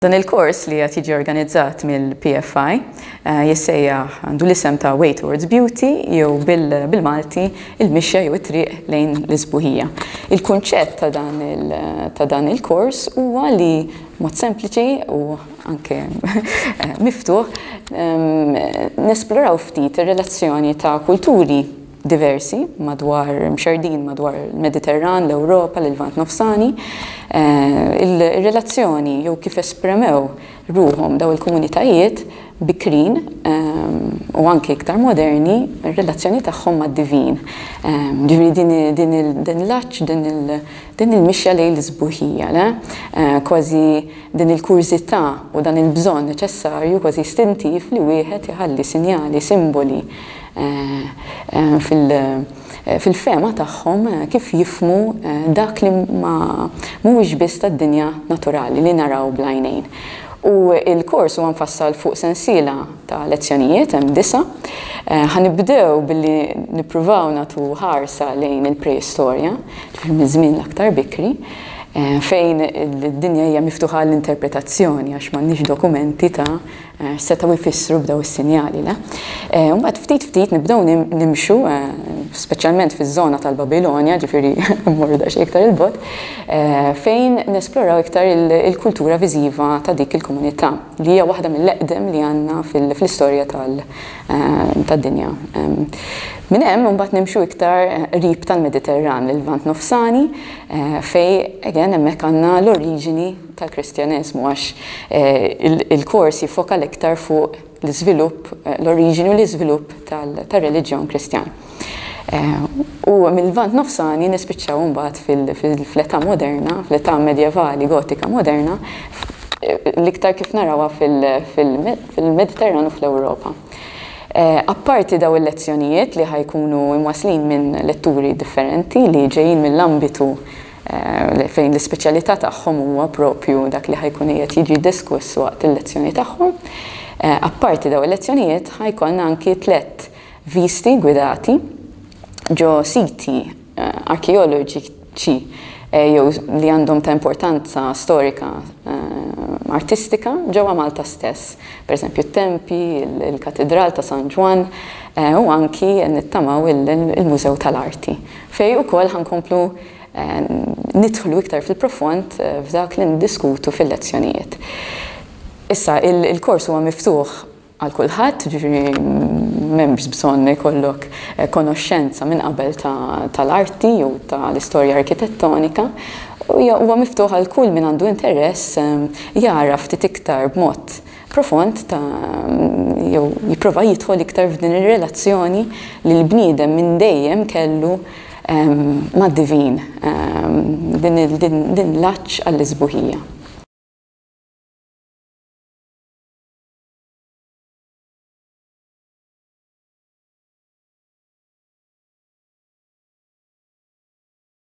Dan il-kors li qed jiġi organizzat mill-PFI eh, jissejjaħ għandu l-isem ta' Way Towards Beauty jew bil-Malti il-mixja jew it-triq lejn l-isbuħija. Il-kunċett ta' dan il-kors huwa li mod sempliċi u anke eh, miftuħ ehm, nesploraw ftit ir-relazzjoni ta' kulturi diversi madwar, mxerrdin madwar il-Mediterran, l-Ewropa, l-Lvant Nofsani, ir-relazzjoni jew kif espremew ruħhom dawn il-komunitajiet bikrin u anke iktar moderni r-relazzjoni tagħhom mad-divin. Ġifieri din il-laċċ, din il-mixja lejn l-isbuħija, le? Kważi din il-kurżità u dan il-bżonn neċessarju kważi istintiv li wieħed iħalli sinjali, simboli, fil-fehma tagħhom kif jifhmu dak li ma mhuwiex biss tad-dinja naturali li naraw bl-għajnejn. U l-kors huwa mfassal fuq sensiela ta' lezzjonijiet, hemm disa'. Ħa nibdew billi nippruvaw nagħtu ħarsa lejn il-preistorja, ġifieri miż-żmien l-aktar bikri, fejn id-dinja hija miftuħa għall-interpretazzjoni għax m'għandniex dokumenti ta' setgħu jfissru bdew is-sinjali, le? Mbagħad ftit ftit nibdew nimxu, speċjalment fiż-żona tal-Babilonja, ġifieri mmorru daqsxejn iktar 'il bogħod, fejn nesploraw iktar il-kultura viżiva ta' dik il-komunità li hija waħda mill-eqdem li għandna fl-istorja tad-dinja. Minn hemm imbagħad nimxu iktar qrib tal-Mediterran, l-Lvant Nofsani, fejn again hemmhekk għandna l-oriġini, tal-Kristjaneżmu għax il-kors jiffoka l-iktar fuq l-iżvilupp, l-oriġini u l-iżvilupp tar-reliġjon Kristjan. U mill-Lvant Nofsani nispiċċaw imbagħad fl-età moderna, fl-età medjevali gotika moderna, l-iktar kif narawha fil-Mediterran u fl-Ewropa. Apparti dawn il-lezzjonijiet li ħa jkunu mwaslin minn letturi differenti li ġejjin mill-ambitu fejn l-ispeċjalità tagħhom huwa proprju dak li ħa jkun qiegħed jiġi diskuss waqt il-lezzjoni tagħhom. Apparti dawn il-lezzjonijiet ħa jkollna anki tliet visti gwidati ġo siti arkeoloġiċi jew li għandhom ta' importanza storika artistika ġewwa Malta stess. Pereżempju t-tempi, il-katidral ta' San Ġwann u anki nittamaw il-Mużew tal-Arti. Fejn ukoll ħankomplu nidħlu iktar fil-profond f'dak li niddiskutu fil-lezzjonijiet. Issa, il-kors huwa miftuħ għal kulħadd, ġifieri m'hemmx bżonn li jkollok eh, konoxxenza minn qabel tal-arti jew tal-istorja arkitettonika. Huwa miftuħ għal kull min għandu interess eh, jara ftit iktar b'mod profond ta' jew jipprova jidħol iktar f'din ir-relazzjoni li l-bniedem minn dejjem kellu mad-divin, din l-għatx għall-isbuħija.